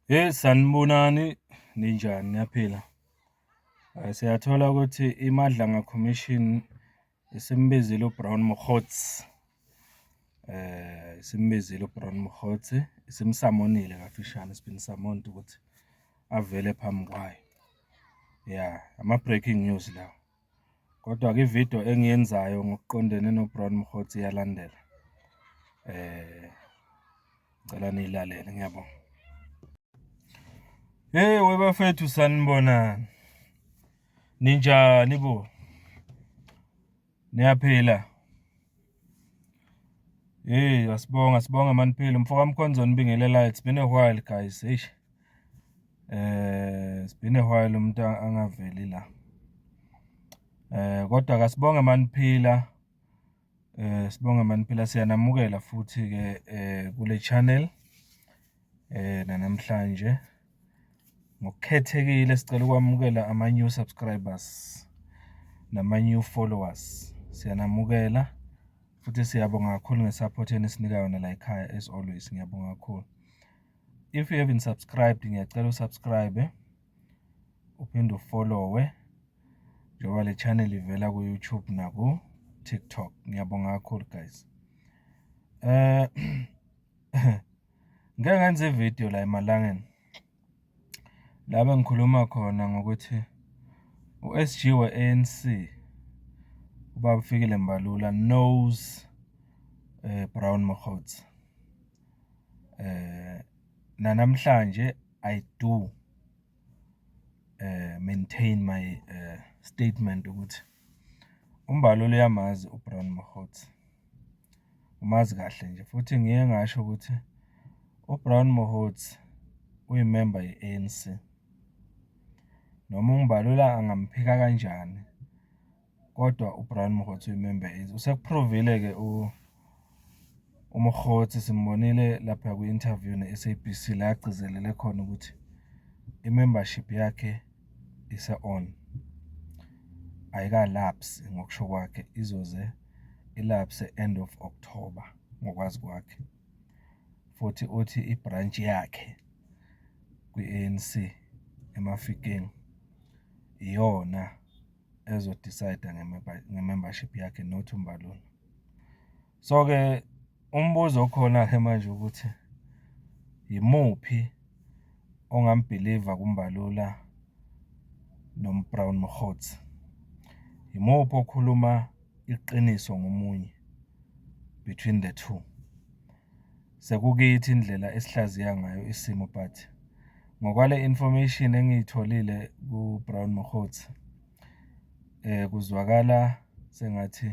Hheyi sanibonani, ninjani niyaphila? Siyathola ukuthi iMadlanga Commission isimbizile uBrown Mokgotsi, isimbizile uBrown Mokgotsi, isimsamonile kafishane, it's been summoned ukuthi avele phambi kwayo. Ya, ama-breaking news lawa. Kodwa-ke ividiyo engiyenzayo ngokuqondene noBrown Mokgotsi iyalandela. Eh ngicela niyilalele ngiyabonga. Hey webafethu sanibonani. Ninjani bo? Niyaphila? Hey, asibonga sibonga maniphile mfo kaMkhonzo nibingelelayo it's been a while guys. Hey. Eh, it's been a while umuntu angaveli la. Eh, kodwa kasibonge maniphila. Eh, sibonge maniphila siyanamukela futhi ke eh kule channel. eh namhlanje ngokukhethekile sicela ukwamukela ama new subscribers nama new followers siyanamukela futhi siyabonga kakhulu ngesupport enisinika yona la ekhaya as always ngiyabonga kakhulu if you haven't subscribed ngiyacela usubscribe uphinde ufollowe njengoba le channel ivela ku YouTube naku TikTok ngiyabonga kakhulu guys eh Ngeke ngenze ividiyo la emalangeni la bengikhuluma khona ngokuthi u-SG we-ANC ubaba Fikile Mbalula knows eh Brown Mokgotsi eh nanamhlanje I do eh maintain my eh statement ukuthi UMbalula uyamazi uBrown Mokgotsi, umazi kahle nje futhi ngiye ngasho ukuthi uBrown Mokgotsi uyimemba ye-ANC. Noma uMbalula angamphika kanjani kodwa uBrown Mokgotsi uyimemba ye-ANC. Usekuphrovile-ke u uMokgotsi simbonile lapha kwi-interview ne-SABC la agcizelele khona ukuthi i-membership yakhe ise-on ayikalapsi ngokusho kwakhe izoze ilapse end of October ngokwazi kwakhe futhi uthi i-branch yakhe kwi-ANC eMafikeng iyona ezo-decide-a nge-membership yakhe not uMbalula. So-ke umbuzo okhona-ke manje ukuthi yimuphi ongambhiliva kuMbalula noMbrown Mokgotsi? Yimuphi okhuluma iqiniso ngomunye between the two? sekukithi indlela esihlaziya ngayo isimo but ngokwale information engiyitholile ku Brown Mokgotsi eh kuzwakala sengathi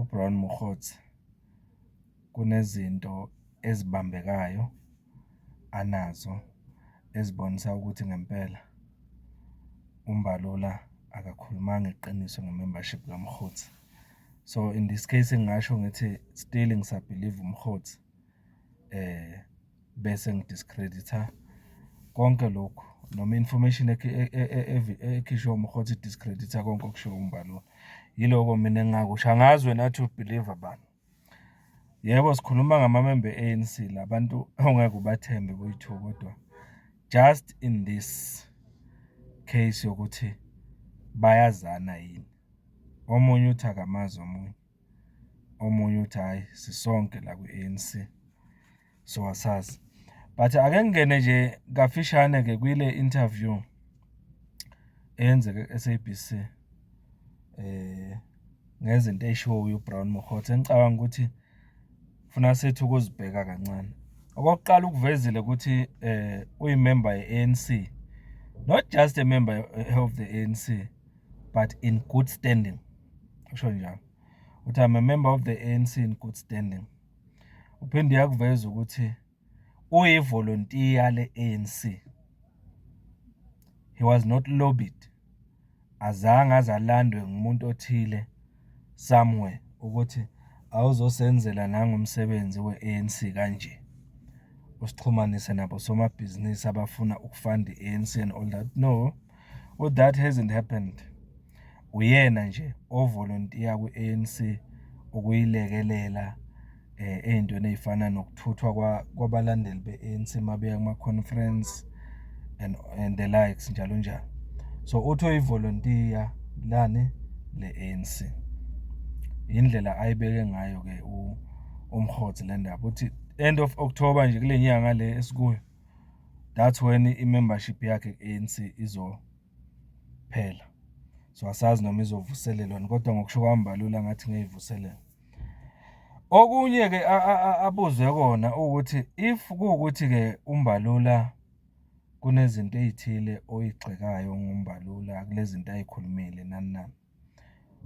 u Brown Mokgotsi kunezinto ezibambekayo anazo ezibonisa ukuthi ngempela uMbalula akakhulumanga iqiniso ngemembership kaMkhothi. so in this case ngingasho ngithi still ngisabelieve umhotsi eh bese ngidiscreditha konke lokhu noma information e, e, e, ekhishwe umhotsi discreditha konke okushiwo umbalula yiloko mina engingakusho angazi wena athi ubelieve bani yebo sikhuluma ngamamembe e-anc labantu ongeke ubathembe boyi-two kodwa just in this case yokuthi bayazana yini Omunye uthi akamazi omunye, omunye uthi hhayi sisonke la kwi-A_N_C so asazi. But ake ngingene nje kafishane-ke kwile interview eyenzeke ku-S_A_B_C ngezinto ey'shiwoyo uBrown Mokgotsi engicabanga ukuthi funa sithi ukuzibheka kancane. Okokuqala ukuvezile ukuthi uyimemba ye-A_N_C, not just a member of the A_N_C. but in good standing usho njalo uthi I'm a member of the ANC in good standing uphinde yakuveza ukuthi uyivolontiya le-ANC he was not lobbied azange azalandwe ngumuntu othile somewhere ukuthi awuzosenzela nangomsebenzi we-ANC kanje usixhumanise nabo somabhizinisi abafuna ukufanda i-ANC and all that no u that hasn't happened uyena nje ovolontiya kwi-ANC ukuyilekelela eh ezintweni ezifana nokuthuthwa kwabalandeli be-ANC mabeya kuma conference and and the likes njalo njalo so uthi uyivolontiya lani le-ANC indlela ayibeke ngayo ke umhotsi le ndaba uthi end of October nje kule nyanga le esikuyo that's when i-membership yakhe ku-anc izophela so asazi noma izovuselelwani kodwa ngokusho kwami balula ngathi ngeyivuselela okunye-ke abuzwe kona ukuthi if kuwukuthi-ke umbalula kunezinto ey'thile oyigxekayo ngombalula kulezinto ay'khulumile nani nani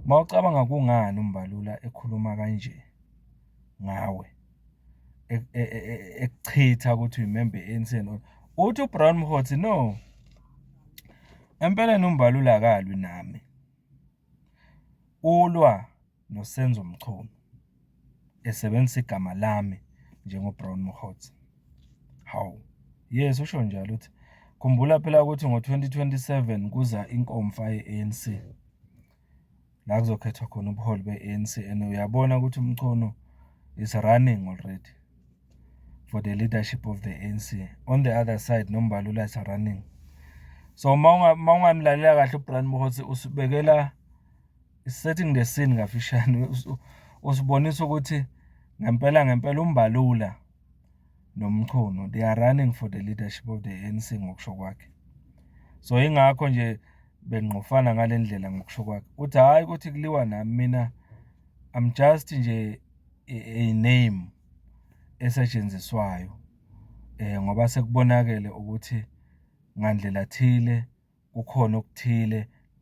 Mawucabanga kungani uMbalula ekhuluma kanje ngawe e, e, e, ekuchitha ukuthi uyimembe ANC uthi uBrown Mhotsi no empeleni uMbalula akalwi nami ulwa noSenzo Mchunu esebenzisa igama lami njengoBrown Mokgotsi hawu yes usho njalo uthi khumbula phela ukuthi ngo-2027 kuza inkomfa ye-ANC la kuzokhethwa khona ubuholi be-ANC and uyabona ukuthi umchono is running already for the leadership of the ANC on the other side nombalula is running so uma ungamlalela kahle uBrian Mokgotsi usibekela Setting the scene kafishane usibonisa ukuthi ngempela ngempela umbalula nomchunu they are running for the leadership of the ANC ngokusho kwakhe so ingakho nje bengqofana ngale ndlela ngokusho kwakhe uthi hhayi ukuthi kuliwa nami mina i'm just nje a name esetshenziswayo um ngoba sekubonakele ukuthi ngandlela thile kukhona okuthile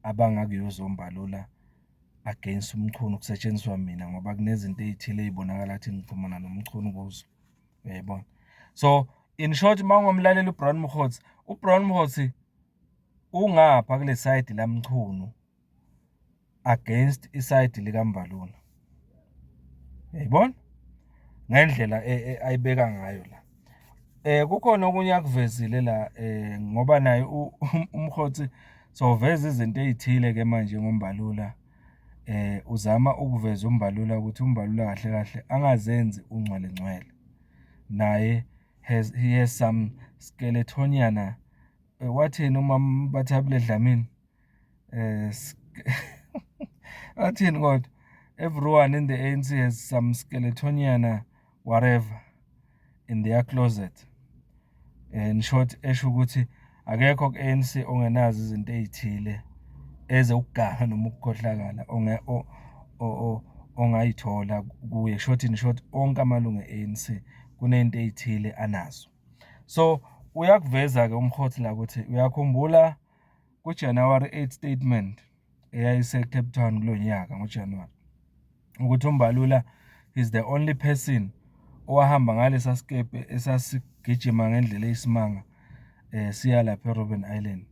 abangakuyozombalula against uMchunu kusetshenziswa mina ngoba kunezinto ezithile ezibonakala ukuthi ngixhumana noMchunu kuzo uyayibona so in short mawungomlaleli uBrown Mkhotsi uBrown Mkhotsi ungapha kule side laMchunu against isayidi likambalula yayibona ngendlela e, e, ayibeka ngayo la eh kukhona okunye akuvezile la eh ngoba naye umkhothi soveza izinto ezithile ke manje ngombalula eh uzama ukuveza umbalula ukuthi umbalula kahle kahle angazenzi ungcwele ngcwele naye has he has some skeletoniana eh, wathini uma bathabule dlamini eh athini kodwa everyone in the ANC has some skeletoniana uh, whatever in their closet in short esho ukuthi akekho ku-ANC ongenazo izinto ezithile ezokuganga noma ukukhohlakala onge ongayithola kuye short in short onke amalungu e-ANC kunento ezithile anazo so uyakuveza ke umkhothi la ukuthi uyakhumbula Ku-January 8 statement eyayiseCape Town kulo nyaka ngoJanuwari ukuthi uMbalula is the only person owahamba ngalesa sikebhe esasigijima ngendlela eyisimanga eh siya lapha eRobben Island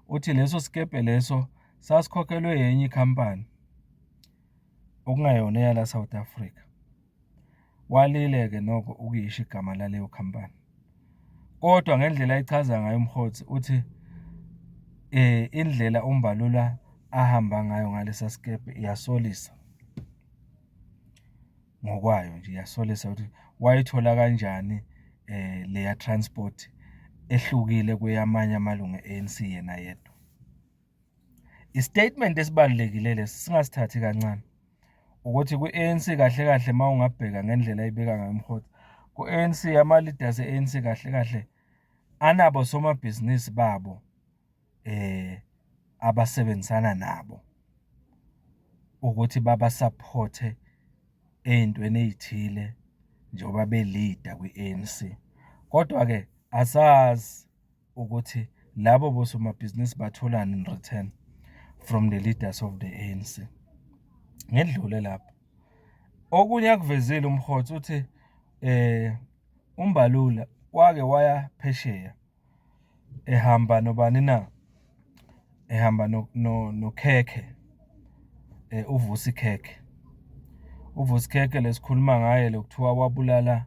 uthi leso sikebhe leso sasikhokhelwe yenye ikhampani okungayona eyala South Africa Walile-ke nokho ukuyisho igama laleyo khampani. Kodwa ngendlela ayichaza ngayo uMkhothi uthi eh indlela uMbalula ahamba ngayo ngalesa sikepe iyasolisa. Ngokwayo nje iyasolisa ukuthi wayithola kanjani eh leya transport ehlukile kweyamanye amalungu e-ANC yena yedwa. I-statement esibalulekile lesi singasithathi kancane ukuthi kwi-ANC kahle kahle uma ungabheka ngendlela ayibeka ngayo umhoti ku-ANC ama-leaders e-ANC kahle kahle anabo somabhizinisi babo eh abasebenzisana nabo ukuthi babasaphothe ey'ntweni ey'thile njengoba belida kwi-ANC kodwa-ke asazi ukuthi labo bosomabhizinisi batholani in return from the leaders of the ANC ngedlule lapho okunye akuvezile umhotsi uthi eh umbalula wake waya phesheya ehamba nobani na ehamba no no nokhekhe eh uvusi khekhe uvusi khekhe lesikhuluma ngaye lokuthiwa wabulala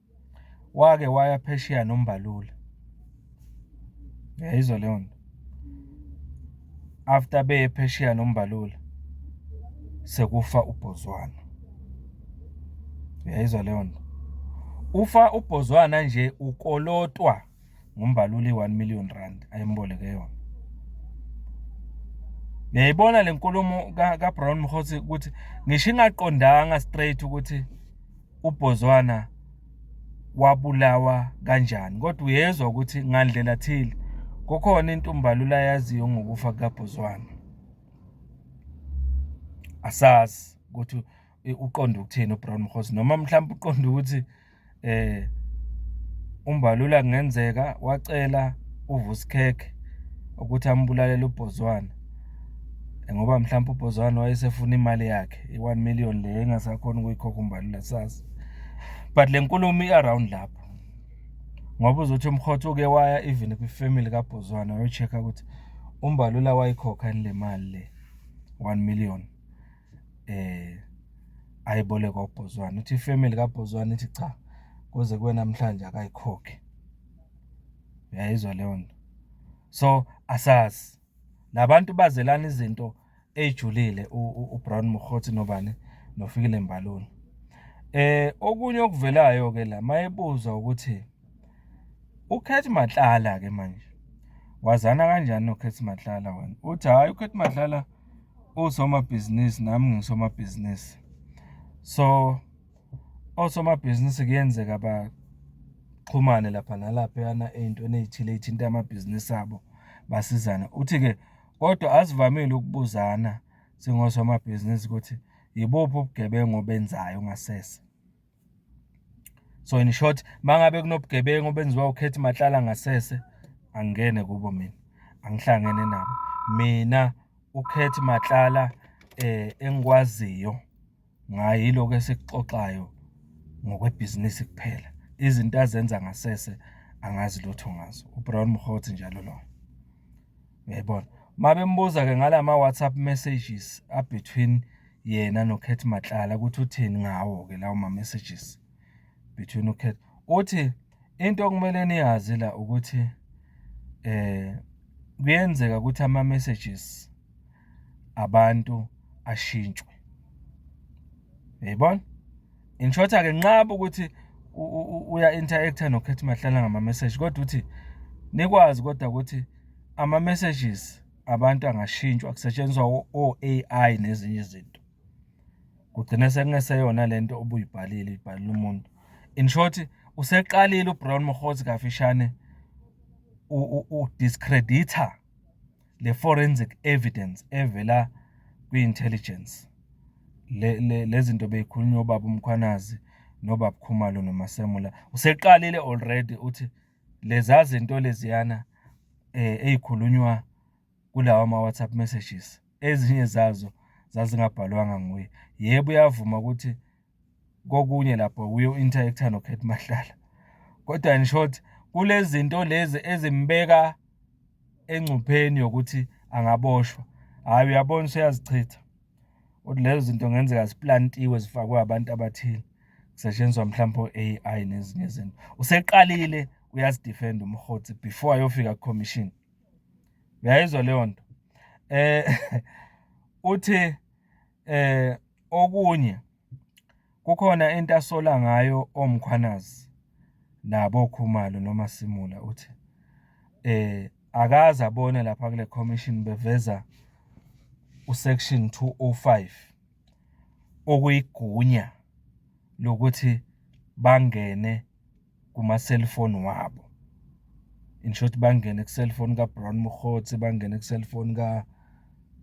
wake waya phesheya nombalula yayizwa leyo nto after beye phesheya nombalula sekufa ubhozwana yayizwa leyo nto ufa ubhozwana nje ukolotwa ngumbaluli i-1 million rand ayemboleke yona ngiyayibona le nkulumo ka-brown mhothi ukuthi ngisho ingaqondanga straight ukuthi ubhozwana wabulawa kanjani kodwa uyezwa ukuthi ngandlela thile kukhona into umbalula yaziyo ngokufa kukabhozwana asazi ukuthi uqonda ukuthini uBrown Mkhosi noma mhlawumbe uqonda ukuthi eh umbalula kungenzeka wacela uVusikhekhe ukuthi ambulalele uBhozwana ngoba mhlawumbe uBhozwana wayesefuna imali yakhe i-1 million le engasakhona ukuyikhokha umbalula sazi but le nkulumo i-around lapho ngoba uzothi umkhotho uke waya even kwifamily kaBhozwana wayocheck-a ukuthi umbalula wayikhokha yini le mali le 1 million eh ayibolekwa uBhozwana uthi ifamily kaBhozwana ithi cha kuze kuwe namhlanje akayikhokhe uyayizwa leyo nto so asazi labantu bazelana izinto ejulile uBrown Mokhothi nobani nofikile Mbalula eh okunye okuvelayo ke la mayebuzwa ukuthi uKhethi Matlala ke manje wazana kanjani noKhethi Matlala wena uthi hayi uKhethi Matlala usomabhizinisi nami ngisomabhizinisi so osomabhizinisi kuyenzeka baxhumane lapha nalaphayana ey'ntweni ey'thile ey'thinta amabhizinisi abo basizane uthi-ke kodwa asivamile ukubuzana singosomabhizinisi ukuthi yibuphi ubugebengu obenzayo ngasese so in short mangabe kunobugebengu obenziwa ukhethi mahlala ngasese angene kubo mina angihlangene nabo mina ukhethi mahlala eh engikwaziyo ngayi lokho esikuxoxayo ngokwebhizinisi kuphela izinto azenza ngasese angazi lutho ngazo ubrown mhothi njalo loyo Yayibona. Mabembuza ke ngala ma WhatsApp messages a between yena no Kate Matlala ukuthi uthini ngawo ke lawo ma messages between u Kate. Uthi into okumele niyazi la ukuthi eh kuyenzeka ukuthi ama messages abantu ashintshwe. Yayibona? in short ake nqaba ukuthi uya interactor no Khethi Mahlala ngama message kodwa uthi nikwazi kodwa ukuthi ama messages abantu angashintshwa kusetshenziswa o AI nezinye izinto kugcina sekungeseyona lento obuyibhalile ibhalile umuntu in short useqalile uBrown Mokhozi kafishane u discredita le forensic evidence evela kwi-intelligence lezinto le, beyikhulunywa ubaba umkhwanazi nobaba khumalo nomasemula useqalile already uthi leza zinto leziyana eh ezikhulunywa kulawa ma WhatsApp messages ezinye zazo zazingabhalwanga nguye yebo uyavuma ukuthi kokunye lapho uye u-interact-a noKhethi Mahlala kodwa in short kulezi zinto lezi ezimbeka engcupheni yokuthi angaboshwa hhayi uyabona useyazichitha ukuthi lezo zinto ngenzeka ziplantiwe zifakwe abantu abathile kusetshenziswa mhlawumbe o-AI nezinye izinto useqalile uyazidefenda umhothi before ayofika ku-commission uyayizwa leyo nto um uthi eh okunye kukhona into asola ngayo omkhwanazi nabo Khumalo noma Simula uthi eh akaze abone lapha kule commission beveza usection 205 okuyigunya lokuthi bangene kuma-cellphone wabo. In short bangene ku-cellphone ka-Brown Mokgotsi, bangene ku-cellphone ka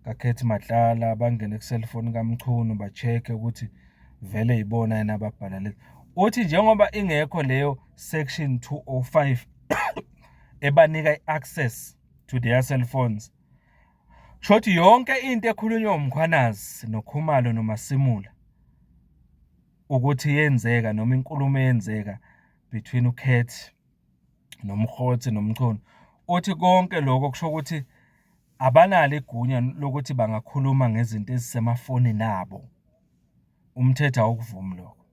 kaKhethi Matlala, bangene ku-cellphone kaMchunu ba-check-e ukuthi vele yibona yena ababhala lezi. Uthi njengoba ingekho leyo section 205 ebanika i-access to their cell phones shothi yonke into ekhulunywa uMkhwanazi noKhumalo noMasimula ukuthi yenzeka noma inkulumo eyenzeka between uKat noMkgotsi noMchunu uthi konke lokho kusho ukuthi abanalo igunya lokuthi bangakhuluma ngezinto ezisemafonini abo umthetho awukuvumi lokho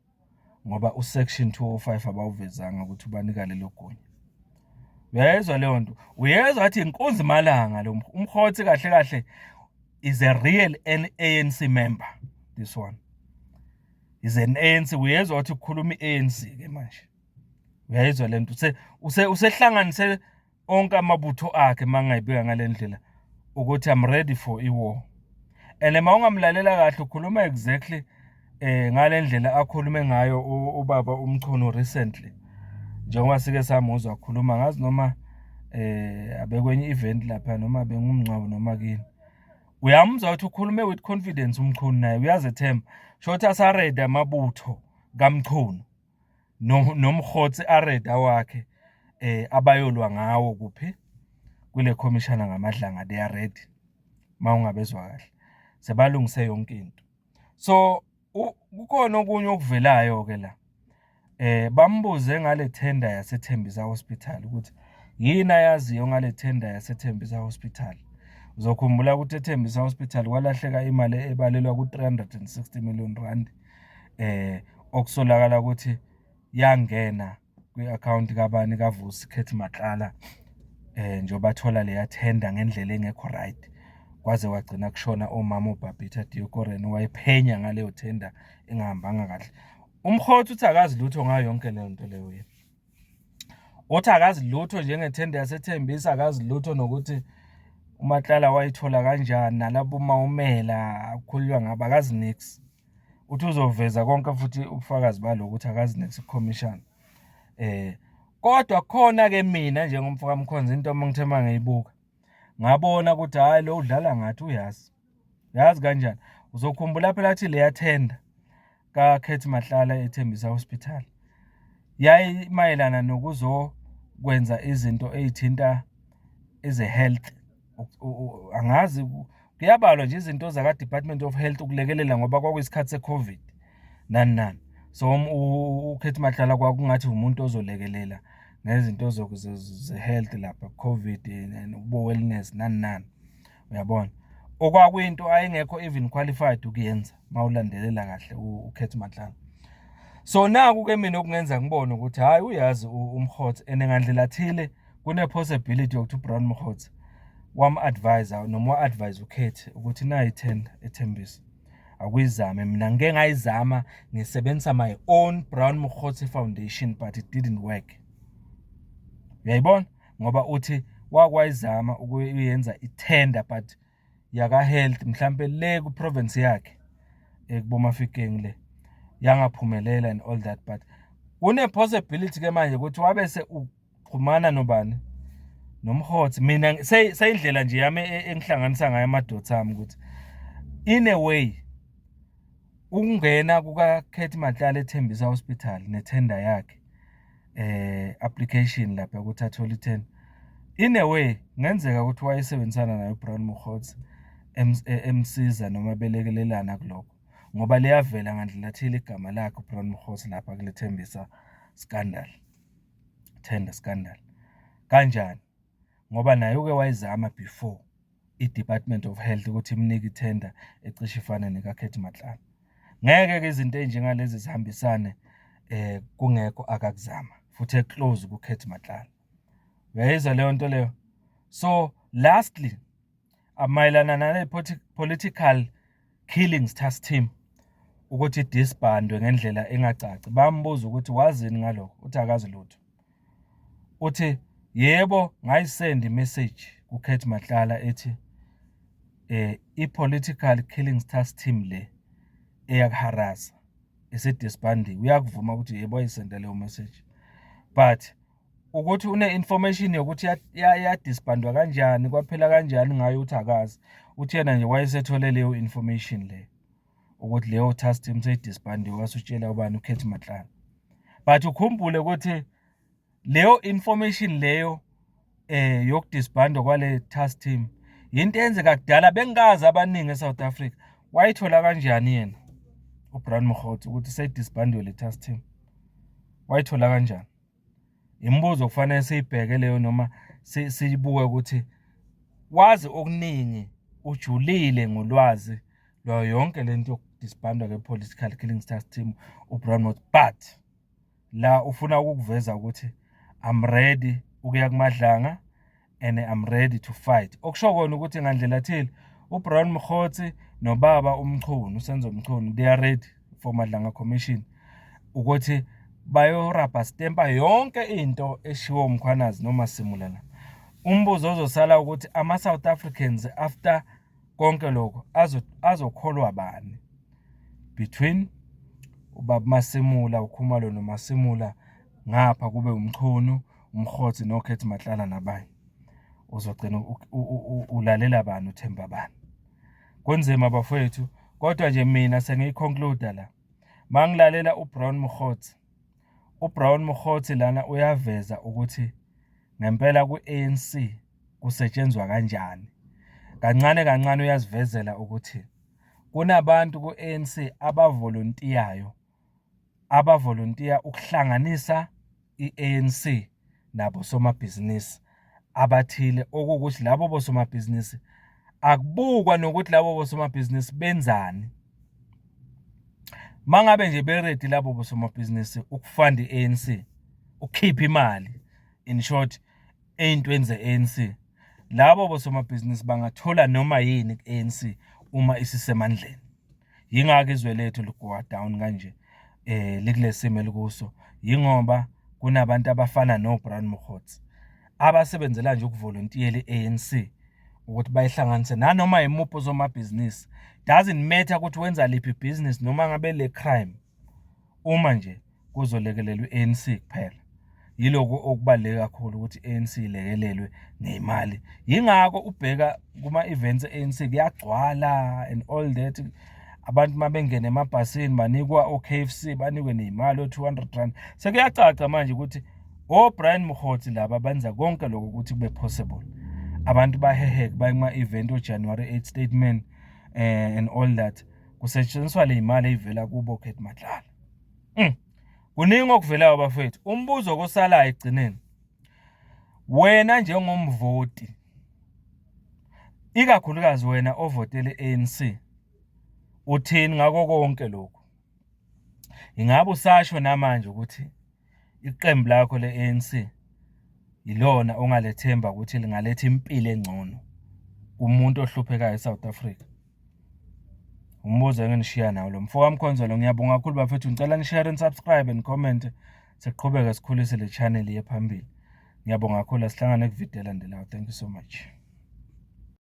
ngoba usection 205 abawuvezanga ukuthi ubanika lelo gunya uyayizwa leyo nto uyezwa athi inkunzi malanga lo umhotsi kahle kahle is a real ANC member this one is an ANC uyezwa ukuthi ukhuluma iANC ke manje uyayizwa lento use use usehlanganise onke amabutho akhe mangayibika ngalendlela ukuthi i'm ready for i war and uma ungamlalela kahle ukhuluma exactly eh ngale ndlela akhulume ngayo ubaba uMchunu recently njengoba sike samuzwa akhuluma ngazi noma eh abekwenye event lapha noma bengumngcwabo noma kini uyamuzwa ukuthi ukhulume with confidence uMchunu naye uyazethemba shothi asareda amabutho kaMchunu nomhotsi areda wakhe eh abayolwa ngawo kuphi kule commissioner ngamadlanga they are ready mawungabezwa kahle sebalungise yonke into so kukhona okunye okuvelayo ke la eh bambuze ngale tender yaseThembisa Hospital ukuthi yini ayaziyo ngale tender yaseThembisa Hospital uzokhumbula ukuthi eThembisa Hospital kwalahleka imali ebalelwa ku360 million rand eh okusolakala ukuthi yangena kwi-akhawunti kabani kaVusi Khethi Matlala eh njengoba thola leya tender ngendlela engekho right kwaze wagcina kushona omama uBabita Diokoren wayephenya ngaleyo tender engahambanga kahle umkhotha uthi akazi lutho ngayo yonke leyo nto leyo yena othi akazi lutho njengethenda yasethembisa akazi lutho nokuthi umatlala wayithola kanjani nalabo mawumela akhulunywa ngabo akazi nix uthi uzoveza konke futhi ubufakazi baloko ukuthi akazi next commission eh kodwa khona ke mina njengomfo kaMkhonza into uma ngithe mangiyibuka ngabona ukuthi hayi lo udlala ngathi uyazi yazi kanjani uzokhumbula phela athi leya tender ka Khethi Mahlala ethembisa hospital yayi mayelana nokuzokwenza izinto ezithinta eze health angazi kuyabalwa nje izinto zaka-department of health ukulekelela ngoba kwakuyisikhathi se-covid nani nani so um, ukhethi madlala kwakungathi umuntu ozolekelela ngezinto ze-health lapha covid ubo-wellness nani nani uyabona okwakuyinto ayengekho even qualified ukuyenza uma ulandelela kahle ukhethi madlala so naku-ke mina okungenza ngibone ukuthi hhayi uyazi umhothe and ngandlela thile kune possibility yokuthi uBrown Mkhotsi wam advisor noma wa advise ukhethi ukuthi nayi tender ethembisa akuyizame mina ngike ngayizama ngisebenzisa my own Brown Mkhotsi Foundation but it didn't work uyayibona ngoba uthi wakwayizama ukuyenza itender but yaka health mhlambe le ku province yakhe ekubomafikeng le yangaphumelela and all that but kune possibility ke manje ukuthi wabe se uxhumana nobani nomhothi mina seyindlela nje yami e, engihlanganisa ngayo amadoda ami ukuthi in a way Ukungena kukaKhethi Matlala eThembisa Hospital nethenda yakhe eh application lapha ukuthi athole ithenda. In a way ngenzeka ukuthi wayesebenzisana nayo Brown Mokgotsi e-, emsiza noma belekelelana kuloko ngoba liyavela ngandlela thile igama lakhe uBrown Mkhosi lapha kulethembisa scandal tender scandal kanjani ngoba naye uke wayizama before i-Department of Health ukuthi imnike i-tender ecishe ifane nekaKhethi Matlala. Ngeke-ke izinto ey'njengalezi zihambisane um kungekho akakuzama futhi eclose kuKhethi Matlala. Uyayizwa leyo nto leyo? So lastly, mayelana nale political killing stars team ukuthi disbandwe ngendlela engacaci bambuza ukuthi wazini ngalokho uthi akazi lutho uthi yebo ngayisend message kuKhethi Matlala ethi eh i-political killing tax team le eyakuharaza isidisbandiwe uyakuvuma ukuthi yebo ayisenda leyo message but ukuthi une-information yokuthi yadisbandwa kanjani kwaphela kanjani ngayo ukuthi akazi uthi yena nje wayesethole leyo information leyo ukuthi leyo task team seyidisbandiwe wasutshela ubani ukhethi matlana but ukhumbule ukuthi leyo information leyo eh yokudisbandwa kwale task team yinto eyenzeka kudala bengazi abaningi eSouth Africa wayithola kanjani yena uBrian Mokgotsi ukuthi seyidisbandwe le task team wayithola kanjani imibuzo okufanele siyibheke leyo noma siyibuke ukuthi wazi okuningi ujulile ngolwazi lwayo yonke le nto yokudisbandwa ke-political killing stars team ubrownmouth but la ufuna ukukuveza ukuthi i'm ready ukuya kumadlanga and I'm ready to fight okusho kona ukuthi ngandlela thile uBrown Mkhotsi nobaba uMchunu uSenzo Mchunu they are ready for Madlanga Commission ukuthi bayorabha stempa yonke into eshiwo uMkhwanazi noma simulana umbuzo ozosala ukuthi ama South Africans after konke lokho azokholwa bani between ubaba Masimula uKhumalo noMasimula ngapha kube uMchunu uMkhothi noKhethi Matlala nabanye uzogcina ulalela bani uthemba bani kunzima bafowethu kodwa nje mina sengiyiconcluda la mangilalela uBrown Mkhothi uBrown Mkhothi lana uyaveza ukuthi ngempela ku-ANC kusetshenzwa kanjani kancane kancane uyazivezela ukuthi kunabantu ku-ANC abavolontiyayo abavolontiya ukuhlanganisa i-ANC nabo somabhizinisi abathile okuwukuthi labo bosomabhizinisi akubukwa nokuthi labo bosomabhizinisi benzani mangabe nje beredi labo bosomabhizinisi ukufanda i-ANC ukukhipha imali in short ey'ntweni ze-ANC labo bosomabhizinisi bangathola noma yini ku-ANC uma isisemandleni. Yingakho izwe lethu ligowa down kanje eh likulesimo elikuso yingoba kunabantu abafana no Brown Mkhotsi abasebenzela nje ukuvolontiela iANC ukuthi bayihlanganise nanoma yimuphi uzomabhizinisi doesn't matter ukuthi wenza liphi business noma ngabe le crime Uma nje kuzolekelelwa i-ANC kuphela yiloko okubaluleke kakhulu ukuthi i-ANC ilekelelwe ngemali yingakho ubheka kuma-events e-ANC kuyagcwala and all that abantu uma bengena emabhasini banikwa o-k f c banikwe ney'mali o-two hundred rand sekuyacaca manje ukuthi obrian mhoti laba benza konke lokho ukuthi kube possible abantu baheheke baye kuma-event ojanuary 8 statement um and all that kusetshenziswa le imali eyivela kubo Kate Madlala mm. kuningi okuvelayo bafethu umbuzo kosalayo egcineni wena njengomvoti ikakhulukazi wena ovotele ANC uthini ngako konke lokho ingabe usasho namanje ukuthi iqembu lakho le-ANC yilona ongalethemba ukuthi lingaletha impilo engcono kumuntu ohluphekayo eSouth Africa umbuzo enginishiya nawo lo mfo wamkhonzelo ngiyabonga kakhulu bafethu ngicela nishare and subscribe and comment siqhubeke sikhulise le channel yephambili ngiyabonga kakhulu asihlangane kuvideo elandelayo thank you so much